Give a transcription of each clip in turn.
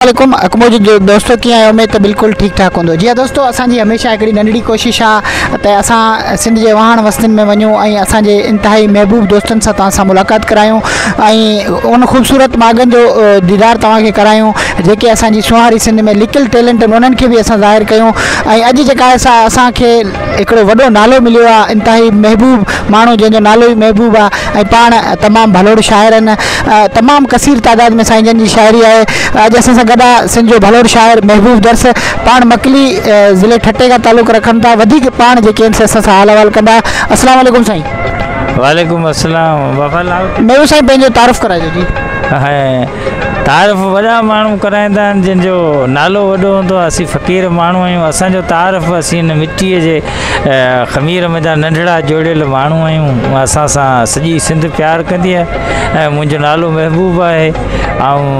عليڪم اڪمو جو دوستو ڪيئن آهيو اميد ته بلڪل ٺيڪ ٺاڪ هوندو جي ها دوستو اسان جي هميشه هڪڙي ننڍڙي ڪوشش آ ته اسان سنڌ جي وهاڻ وستين ۾ وڃون ۽ اسان جي انتهائي محبوب دوستن سان توهان سان ملاقات ڪرايون ۽ ان خوبصورت ماڳن جو ديدار توهان کي ڪرايون جيڪي اسان جي سونهاري سنڌ ۾ لڪل ٽيلنٽ انهن کي به اسان ظاهر ڪيون ۽ اڄ جيڪا اسان کي هڪڙو وڏو نالو مليو آ انتهائي محبوب ماڻهو جنهن جو نالو ئي محبوب آ ۽ پاڻ تمام ڀلوڙ شاعر آهن تمام ڪثير تعداد ۾ سائين جن جي شاعري آهي اڄ اسان سان گڏ آ سنڌ جو ڀلوڙ شاعر محبوب درس پاڻ مڪلي ضلعي ٺٽي کان تعلق رکن ٿا وڌيڪ پاڻ جيڪي آهن سي اسان سان حال احوال ڪندا السلام عليڪم سائين وعليڪم السلام بابا لاهور محبوب سائين پنهنجو تعارف ڪرائجو جي هي تعارف وڏا ماڻهو ڪرائيندا آهن جن جو نالو وڏو هوندو آهي اسين فقير ماڻهو آهيون اسان جو تعارف اسين هن مٽي جي خمير ۾ جا ننڍڙا جوڙيل ماڻهو آهيون اسان سان سڄي سنڌ پيار ڪندي آهي ۽ منهنجو نالو محبوب آهي آئون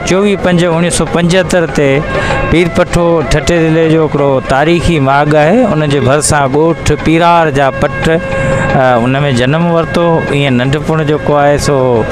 چوويهه پنج اوڻيهه سو پنجهتر تي پير پٺو ٺٽي ضلعي جو هڪڙو تاريخي ماڳ آهي ان جي ڀرسان ڳوٺ پيرار جا پٽ ان ۾ جنم ورتو ائين ننڍپڻ جيڪو آهي سو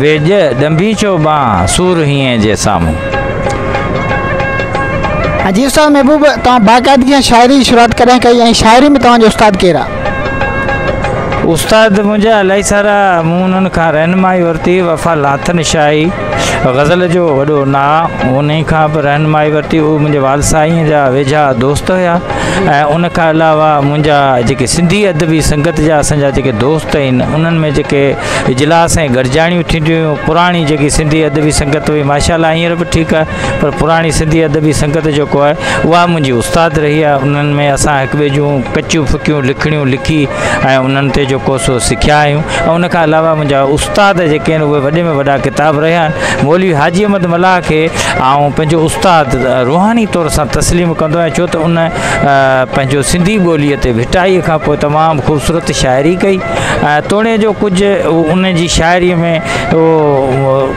ويڄ ڏنڀي ڇو ٻانهه، سور هينئين جي سامهون. ها جي استاد محبوب توهان باقاعدگي سان شاعري جي شروعات ڪڏهن ڪئي ۽ شاعري ۾ توهان جو استاد ڪير آ؟ استاد منهنجا الائي سارا مون انهن کان رهنمائي ورتي وفا لاٿن شاهي غزل جو وڏو نا انهي کان به رهنمائي ورتي اهي منهنجي والد سائين جا ويجها دوست هيا ۽ ان کان علاوه منهنجا جيڪي سنڌي ادبي سنگت جا اسان جا جيڪي دوست آهن انهن ۾ جيڪي اجلاس ۽ گڏجاڻيون ٿينديون هيون پراڻي جيڪي سنڌي ادبي سنگت هئي ماشاء الله هينئر به ٺيڪ آهي پر پراڻي سنڌي ادبي سنگت جيڪو آهي اها منهنجي استاد رهي آهي انهن ۾ اسان هڪ ٻئي جون ڪچيون ڦڪيون لکڻيون لکي ۽ انهن تي جيڪو سو سکيا آهيون ۽ ان کان علاوه منهنجا استاد جيڪي آهن اهي وڏي ۾ وڏا ڪتاب رهيا آهن مولوي حاجي احمد ملاح کي آئون پنهنجو استاد روحاني طور سان تسليم ڪندو آهيان ڇو ته ان پنهنجو سنڌي ٻوليء تي ڀٽائيء کان پوء تمام خوبصورت شاعري ڪئي توڻي جو ڪجهه ان جي شاعريء ۾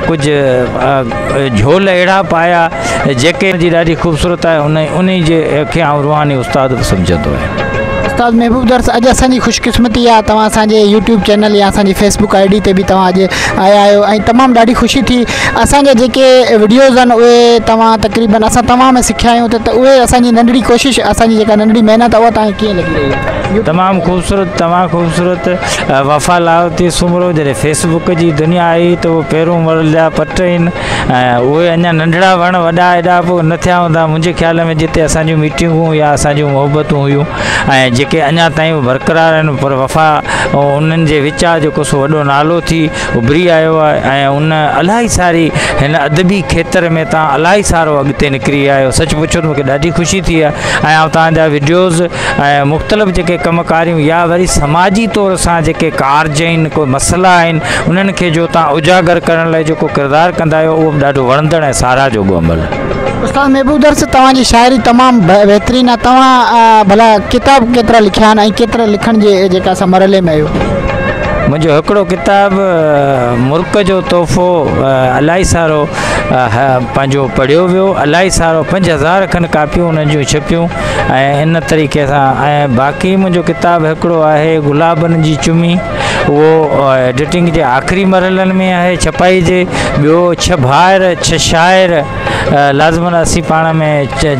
ڪجهه جهول اهڙا پايا جيڪي جي ڏاڍي خوبصورت آهي ان انهي جي کي آئون روحاني استاد به سمجهندو آهيان. استاد محبوب درس اڄ اسان جي خوش قسمتي آ توهان اسان جي يوٽيوب چينل يا اسان جي فيس بڪ آئي ڊي تي به توهان اڄ آيا آهيو ۽ تمام ڏاڍي خوشي ٿي اسان جا جيڪي وڊيوز آهن اهي توهان تقريبن اسان توهان ۾ سکيا آهيون ته اهي اسان جي ننڍڙي ڪوشش اسان جي جيڪا ننڍڙي محنت آ اها توهان کي ڪيئن لڳي رهي آ. تمام خوبصورت تمام خوبصورت وفا لاهوتي سومرو جڏهن فيس بڪ جي دنيا آئي ته اهي پيرون مرل جا پٽ آهن اهي اڃا ننڍڙا وڻ وڏا ايڏا به نه ٿيا هوندا منهنجي خيال ۾ جتي اسان جون ميٽنگون يا اسان جون محبتون هيون ۽ جيڪي اڃا تائين برقرار آهن پر وفا انهن جي وچان جيڪو سو وڏو نالو ٿي اڀري آيو آهي ۽ ان الاهي ساري هن ادبي کيتر ۾ تان الاهي سارو اڳتي نڪري آيو سچ پڇو ته مونکي ڏاڍي خوشي ٿي آهي ۽ آئون تهنجا وڊيوز ۽ مختلف جيڪي ڪم ڪاريون يا وري سماجي طور سان جيڪي ڪارج آهن ڪو مسئلا آهن انهن کي جو تان اجاگر ڪرڻ لاء جيڪو ڪردار ڪندا آهيو اهو به ڏاڍو وڻندڙ ۽ ساراهه جوڳو عمل آهي. استاد محبوب درس توهان جي شاعري تمام بهترين آهي توهان ڀلا ڪتاب ڪيترا لکيا آهن ۽ ڪيترا لکڻ جي جيڪا اسان مرحلي ۾ آهيو. منهنجو هڪڙو ڪتاب مرڪ جو تحفو الائي سارو پنهنجو پڙهيو ويو الائي سارو پنج هزار کن ڪاپيون انهن جون ڇپيون ۽ ان طريقي سان ۽ باقي منهنجو ڪتاب هڪڙو آهي گلابن جي چمي اهو ايڊيٽنگ جي آخري مرحلن ۾ آهي ڇپائي جي ٻيو ڇهه ڀائر ڇهه شاعر لازمن اسين پاڻ ۾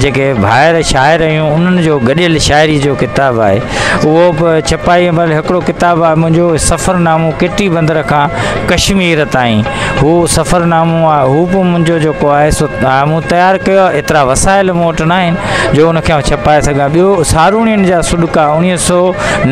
جيڪي ڀائر شاعر آهيون انهن جو گڏيل شاعري جو ڪتاب آهي اهو به ڇپائي مهل هڪڙو ڪتاب آهي منهنجو سفرنامو ڪٽي بندر کان ڪشمير تائين هو سفر نامو آهي هو به منهنجو جيڪو آهي سو مون تيار ڪيو آهي ايترا وسائل مون وٽ ناهن جو ان کي ڇپائي سگهان ٻيو ساروڻين جا سڏڪا اوڻيهه سو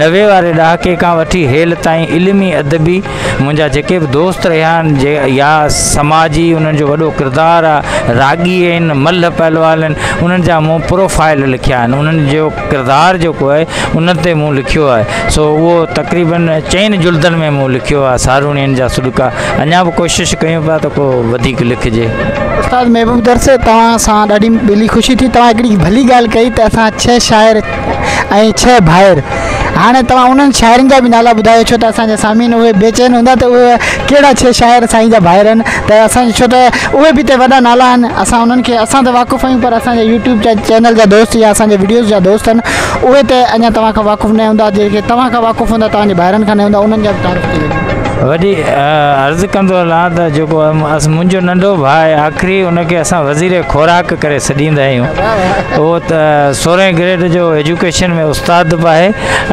نوي واري ڏهاڪي کان وٺي هيل تائين علمي ادبي منهنجا جيڪي به دوست رهيا آهن جي يا سماجي انهن جو وڏو ڪردار آهي راڳي آهن ملهه پهلوان آهن انهن جا مون پروفائل لکيا آهن انهن جو ڪردار جيڪو آهي ان تي مون لکيو آهي سو اهو تقريبن چئن جلدن ۾ مون لکيو آهي ساروڻين جا سڏڪا اڃا به ڪوشش ڪيون پيا ته ڪو وڌيڪ لکجي استاد محبوب درس توهان سان ڏاڍي دلي خوشي ٿي توهان هڪڙي ڀلي ڳالهه ڪئي ته اسان ڇهه شاعر ۽ ڇهه ڀائر هاڻي توهان انهن شاعرن جا به نالا ٻڌايو ڇو ته اسان جا سامعين اهي بيچين هوندا ته اهي ڪهڙا ڇهه شاعر سائين جا ڀائر آهن ته اسان جي ڇو ته اهي به ته وڏا نالا آهن اسان انهن کي اسان ته واقف آهيون پر اسان جي يوٽيوب جا چينل جا دوست يا اسان جي وڊيوز جا دوست آهن اهي ته اڃا توهان کان واقف نه هوندا جيڪي توهان کان واقف هوندا توهان جي ڀائرن کان نه هوندا انهن جا به تعارف ٿي ويندو وڏي عرض ڪندو هلان ته جيڪو منهنجو ننڍو ڀاء آهي آخري ان کي اسان وزير خوراڪ ڪري سڏيندا آهيون اهو ته سورهين گريڊ جو ايجوڪيشن ۾ استاد به آهي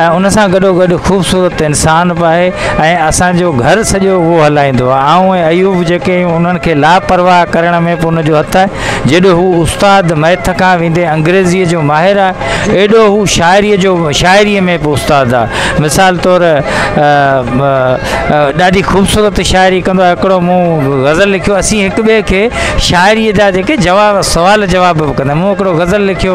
۽ ان سان گڏو گڏ خوبصورت انسان به آهي ۽ اسان جو گهر سڄو اهو هلائيندو آهي. آئون ۽ ايوب جيڪي آهيون، انهن کي لاپرواهه ڪرڻ ۾ به ان جو هٿ آهي. جيڏو هو استاد، مئٿ کان ويندي انگريزيء جو ماهر آهي، ايڏو هو شاعريء جو شاعريء ۾ به استاد آهي. مثال طور ڏاڍي خوبصورت شاعري ڪندو آهي. هڪڙو مون غزل لکيو، اسين هڪ ٻئي کي شاعريء جا جيڪي جواب، سوال جواب به ڪندا آهيون. مون هڪڙو غزل لکيو،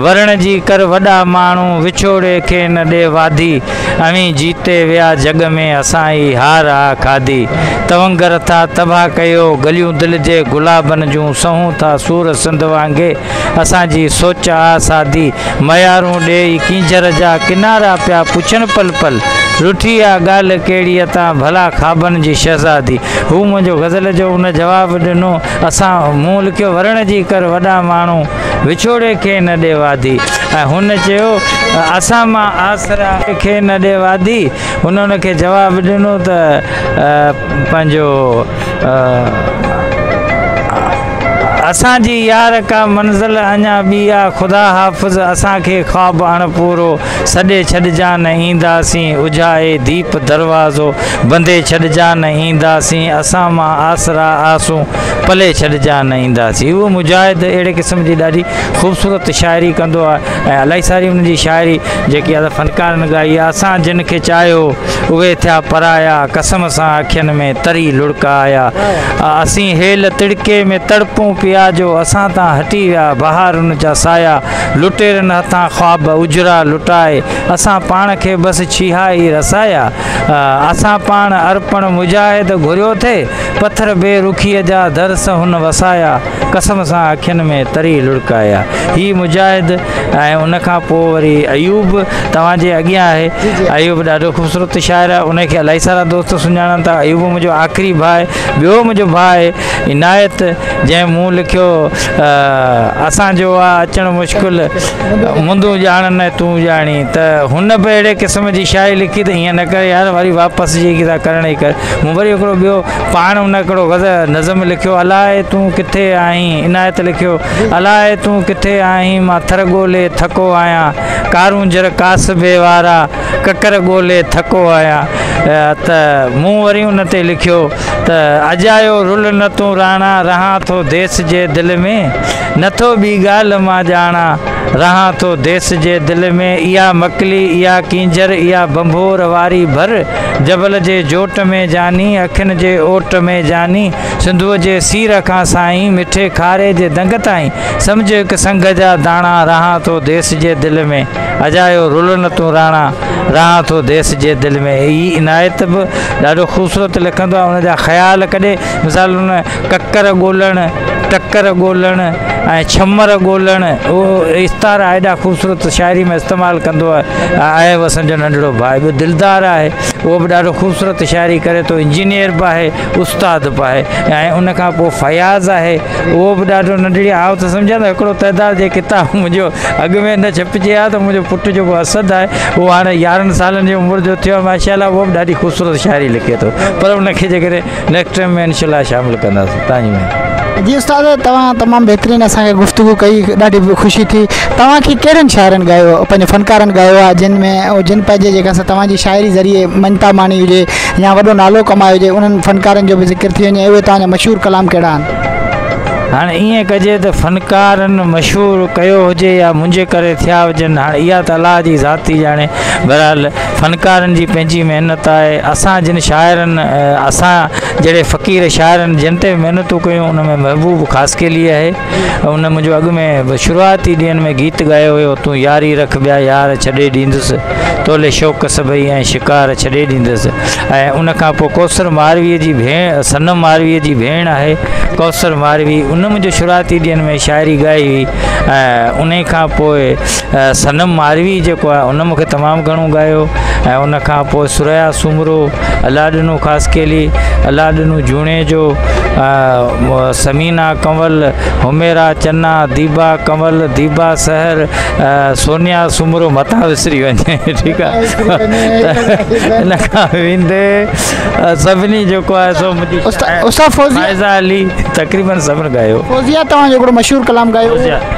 ورڻ جي ڪر وڏا ماڻهو، وڇوڙي کي نه ڏي واڌي. اوهين جيتي ويا جڳ ۾، اسان ئي هار آ کاڌي. تونگر ٿا تباهه ڪيو، گليون دل جي گلابن جون، سهون ٿا سور سنڌ وانگي، اسان جي سوچ آ سادي. ميارون ڏيئي ڪينجهر جا، ڪنارا پيا پڇن پل پل، رٺي آ ڳالهه ڪهڙيء تان، ڀلا خوابن جي شهزادي. هو منهنجو غزل جو ان جواب ڏنو، اسان مون لکيو ورڻ جي ڪر وڏا ماڻهو. وڇوڙي کي نه ڏي واڌي ۽ هن چيو ته اسان مان آسرا کي نه ڏي واڌي هن ان کي جواب ڏنو ته پنهنجو اسان جي يار ڪا منزل اڃا ٻي آ خدا حافظ اسان کي خواب اڻ پورو سڏي ڇڏجا نه اينداسين اجهائي ديپ دروازو بندي ڇڏجا نه اينداسين اسان مان آسرا آسون پلي ڇڏجان نه اينداسين اهو مجاهد اهڙي قسم جي ڏاڍي خوبصورت شاعري ڪندو آهي ۽ الاهي ساري ان جي شاعري جيڪي اسان فنڪارن ڳائي آهي اسان جن کي چاهيو اهي ٿيا پرايا قسم سان اکين ۾ تري لڙڪا آيا اسين هيل تڙڪي ۾ تڙپون پيا جو اسان تان هٽي ويا بهارن جا سايا لٽيرن هٿان خواب اجرا لٽائي اسان پاڻ کي بس ڇيها ئي رسايا اسان پاڻ ارپڻ مجاهد گهريو ٿي پٿر بي رخيء جا درس هن وسايا، قسم سان اکين ۾ تري لڙڪايا. هي مجاهد ۽ ان کان پوء وري ايوب توهان جي اڳيان آهي. ايوب ڏاڍو خوبصورت شاعر آهي. ان کي الائي سارا دوست سڃاڻن ٿا. ايوب منهنجو آخري ڀاء آهي. ٻيو منهنجو ڀاء آهي عنايت، جنهن مون لکيو اسان جو آ اچڻ مشڪل، مندون ڄاڻن ۽ تون ڄاڻين ته هن به اهڙي قسم جي شاعري لکي ته ائين نه ڪر يار، وري واپس جيڪي ٿا ڪرڻ اي ڪر. مون وري هڪڙو ٻيو پاڻ ان هڪڙو غزل نظم لکيو الاء تون ڪٿي آهين عنايت لکيو الاء تون ڪٿي آهين مان ٿر ڳولي ٿڪو آهيان ڪارونجهر ڪاسبي وارا ڪڪر ڳولي ٿڪو آهيان ته مون وري ان تي لکيو ته اڄ آيو رل نه تون راڻا رهان ٿو ديس جي دل ۾ نٿو ٻي ڳالهه مان ڄاڻا رهان ٿو ديس جي دل ۾ اها مڪلي اها ڪينجهر اها ڀنڀور واري ڀر جبل جي جوٽ ۾ جاني، اکين جي اوٽ ۾ جاني، سنڌوء جي سير کان سائين، مٺي کاري جي دنگ تائين، سمجهه هڪ سنگهه جا داڻا، رهان ٿو ديس جي دل ۾، اجايو رول نه تون راڻا، رهان ٿو ديس جي دل ۾. هي عنايت به ڏاڍو خوبصورت لکندو آهي ان جا خيال ڪڏهن مثال ان ڪڪر ڳولڻ، ٽڪر ڳولڻ ۽ ڇمر ڳولڻ استعارا ايڏا خوبصورت شاعري ۾ استعمال ڪندو آهي وسن جو ننڍڙو ڀاء به دلدار آهي اهو به ڏاڍو خوبصورت شاعري ڪري ٿو انجنيئر به آهي استاد به آهي ۽ ان کان پوء فياض آهي اهو به ڏاڍو ننڍڙي آء ته سمجهان ته هڪڙو تعداد جي ڪتاب منهنجو اڳ ۾ نه ڇپجي ها ته منهنجو پٽ جيڪو اسد آهي اهو هاڻي يارهن سالن جي عمر جو ٿيو ماشاء الله اهو به ڏاڍي خوبصورت شاعري لکي ٿو پر ان کي جيڪڏهن نيڪسٽ ٽائيم ۾ انشاء الله شامل ڪنداسين تنهنجي مهرباني. جي استاد توهان تمام بهترين اسان کي گفتگو ڪئي ڏاڍي خوشي ٿي توهان کي ڪهڙن شاعرن ڳايو پنهنجي فنڪارن ڳايو آهي جن ۾ جن پنهنجي جيڪا سا توهان جي شاعري ذريعي مڃتا ماڻي هجي يا وڏو نالو ڪمايو هجي انهن فنڪارن جو به ذڪر ٿي وڃي اهي توهان جا مشهور ڪلام ڪهڙا آهن هاڻ ائين ڪجي ته فنڪارن مشهور ڪيو هجي يا منهنجي ڪري ٿيا هجن هاڻ اها ته الله جي ذات ٿي ڄاڻي بهرحال فنڪارن جي پنهنجي محنت آهي اسان جن شاعرن اسان جهڙي فقير شاعرن جن تي محنتون ڪيون ان ۾ محبوب خاصخيلي آهي ان منهنجو اڳ ۾ شروعاتي ڏينهن ۾ گيت ڳايو هيو تون ياري رک ٻيا يار ڇڏي ڏيندس تولي شوق سڀئي ۽ شڪار ڇڏي ڏيندس ۽ ان کان پوء ڪوثر ماروي جي ڀيڻ صنم ماروي جي ڀيڻ آهي ڪوثر ماروي ان منهنجو شروعاتي ڏينهن ۾ شاعري ڳائي هئي ۽ ان کان پوء صنم ماروي جيڪو آهي ان مونکي تمام گهڻو ڳايو ۽ ان کان پوء ثريا سومرو الله ڏنو خاصخيلي الله ڏنو جوڻيجو ثمينا ڪنول حميرا چنا ديبا ڪنول ديبا سحر سونيا سومرو متان وسري وڃي ٺيڪ آهي ان کان ويندي سڀني جيڪو آهي سو منهنجي استاد فوزيا علي تقريبا سڀن ڳايو فوزيا توهان جو هڪڙو مشهور ڪلام ڳايو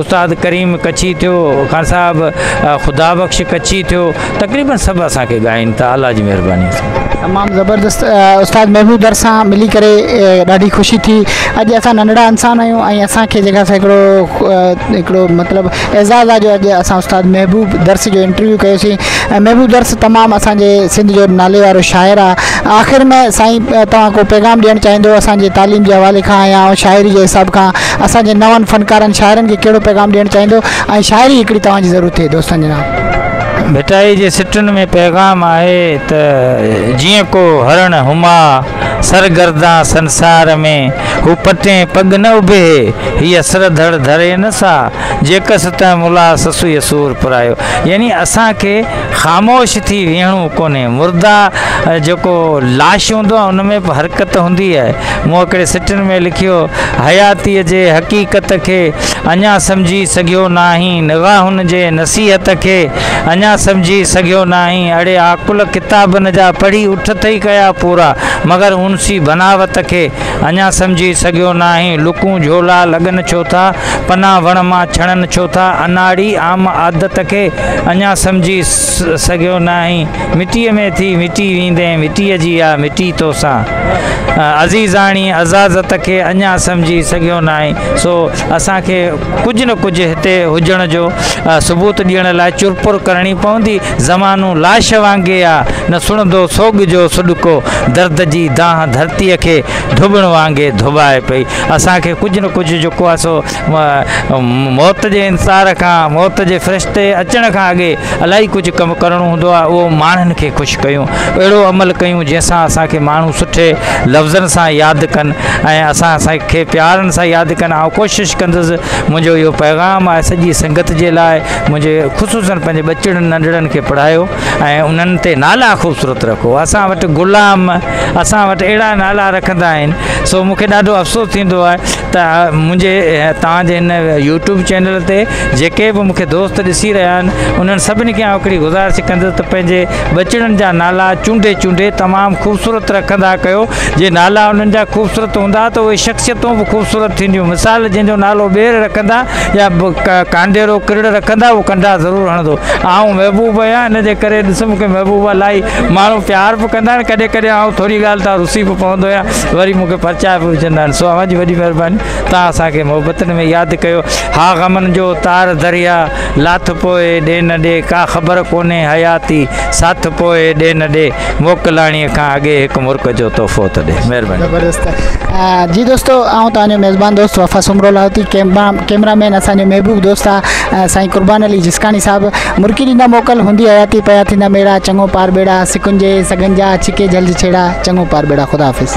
استاد ڪريم ڪڇي ٿيو، خان صاحب خدا بخش ڪڇي ٿيو تقريبن سڀ اسان کي ڳائين ٿا الله جي مهرباني سان. تمام زبردست استاد محبوب در سان ملي ڪري ڏاڍي خوشي ٿي اڄ اسان ننڍڙا انسان آهيون ۽ اسان کي جيڪا سا هڪڙو هڪڙو مطلب اعزاز آهي جو اڄ اسان استاد محبوب درس جو انٽرويو ڪيوسين ۽ محبوب درس تمام اسان جي سنڌ جو نالي وارو شاعر آ آخر ۾ سائين توهان ڪو پيغام ڏيڻ چاهيندو اسان جي تعليم جي حوالي کان يا شاعري جي حساب کان اسان جي نون فنڪارن شاعرن کي ڪهڙو پيغام ڏيڻ چاهيندو ۽ شاعري هڪڙي توهان جي ضرور ٿئي دوستن جي نام. ڀٽائي جي سٽن ۾ پيغام آهي ته جيئن ڪو هرڻ هما سر گردان سنسار ۾، هو پٽين پڳ نه اڀيهي، هيء سر ڌڙ ڌري نه سا، جيڪس تنهن ملاح سسئي سور پرايو. يعني اسان کي خاموش ٿي ويهڻو ڪونهي. مرده جيڪو لاش هوندو آهي ان ۾ به حرڪت هوندي آهي. مون هڪڙي سٽن ۾ لکيو، حياتيء جي حقيقت کي اڃا سمجهي سگهيو ناهين، نغه هن جي نصيحت کي اڃا سمجهي سگهيو ناهين، اڙي عاقل ڪتابن جا پڙهي اٺ ٿئي ڪيا پورا، مگر هونسي بناوت کي اڃا سمجهي سگهيو ناهين، لڪون جهولا لڳن ڇو ٿا، پنا وڻ مان ڇڻن ڇو ٿا، اناڙي عام عادت کي. اڃا سمجهي سگهيو ناهين مٽيء ۾ ٿي مٽي ويندين مٽيء جي آ مٽي توسان عزيزاڻي عزازت کي اڃا سمجهي سگهيو ناهين سو اسان کي ڪجهه نه ڪجهه هتي هجڻ جو ثبوت ڏيڻ لاء چرپر ڪرڻي پوندي زمانو لاش وانگي آ نه سڻندو سوڳ جو سڏڪو درد جي دانهن ڌرتيء کي ڌوٻڻ وانگي ڌوٻائي پئي اسان کي ڪجهه نه ڪجهه جيڪو آ سو موت جي انتظار کان، موت جي فرشتي اچڻ کان اڳي الائي ڪجهه ڪم ڪرڻو هوندو آهي اهو ماڻهن کي خوش ڪيون، اهڙو عمل ڪيون جنهن سان اسان کي ماڻهو سٺي لفظن سان ياد ڪن ۽ اسان کي پيارن سان ياد ڪن آئون ڪوشش ڪندس منهنجو اهو پيغام آهي سڄي سنگت جي لاء منهنجي خصوصن پنهنجي ٻچڙن ننڍڙن کي پڙهايو ۽ انهن تي نالا خوبصورت رکو اسان وٽ غلام اسان وٽ اهڙا نالا رکندا آهن سو مونکي ڏاڍو افسوس ٿيندو آهي ته منهنجي توهان جي هن يوٽيوب چينل تي جيڪي به مون کي دوست ڏسي رهيا آهن انهن سڀني کي آئون هڪڙي گذارش ڪندس ته پنهنجي ٻچڙن جا نالا چونڊي چونڊي تمام خوبصورت رکندا ڪيو جي نالا انهن جا خوبصورت هوندا ته اهي شخصيتون به خوبصورت ٿينديون مثال جنهن جو نالو ٻير رکندا يا ڪانڊيرو ڪرڙ رکندا اهو ڪنڊا ضرور هڻندو آئون محبوب آهيان ان جي ڪري ڏس مون کي محبوب الاهي ماڻهو پيار به ڪندا آهن ڪڏهن ڪڏهن آئون ٿوري ڳالهه تان رسي به پوندو آهيان وري مون کي پرچاء به وجهندا آهن سو اوهان جي وڏي مهرباني توهان اسان کي محبتن ۾ ياد ڪيو ها غمن جو تار دريا لاٿ پوء ڏي نه ڏي ڪا خبر ڪونهي حياتي ساٿ پوء ڏي نه ڏي موڪلاڻي کان اڳي هڪ مرڪ جو تحفو ته ڏي مهرباني زبردست جي دوستو آئون توهان جو ميزبان دوست Wafa Soomro Lahooti camera cameraman اسان جو محبوب دوست آهي سائين قربان علي جسڪاڻي صاحب مرڪي ڏيندا موڪل هوندي حياتي پيا ٿيندا ميڙا چڱو پار ٻيڙا سڪن جي سڳن جا ڇڪي جهل جي ڇيڙا چڱو پار ٻيڙا خدا حافظ.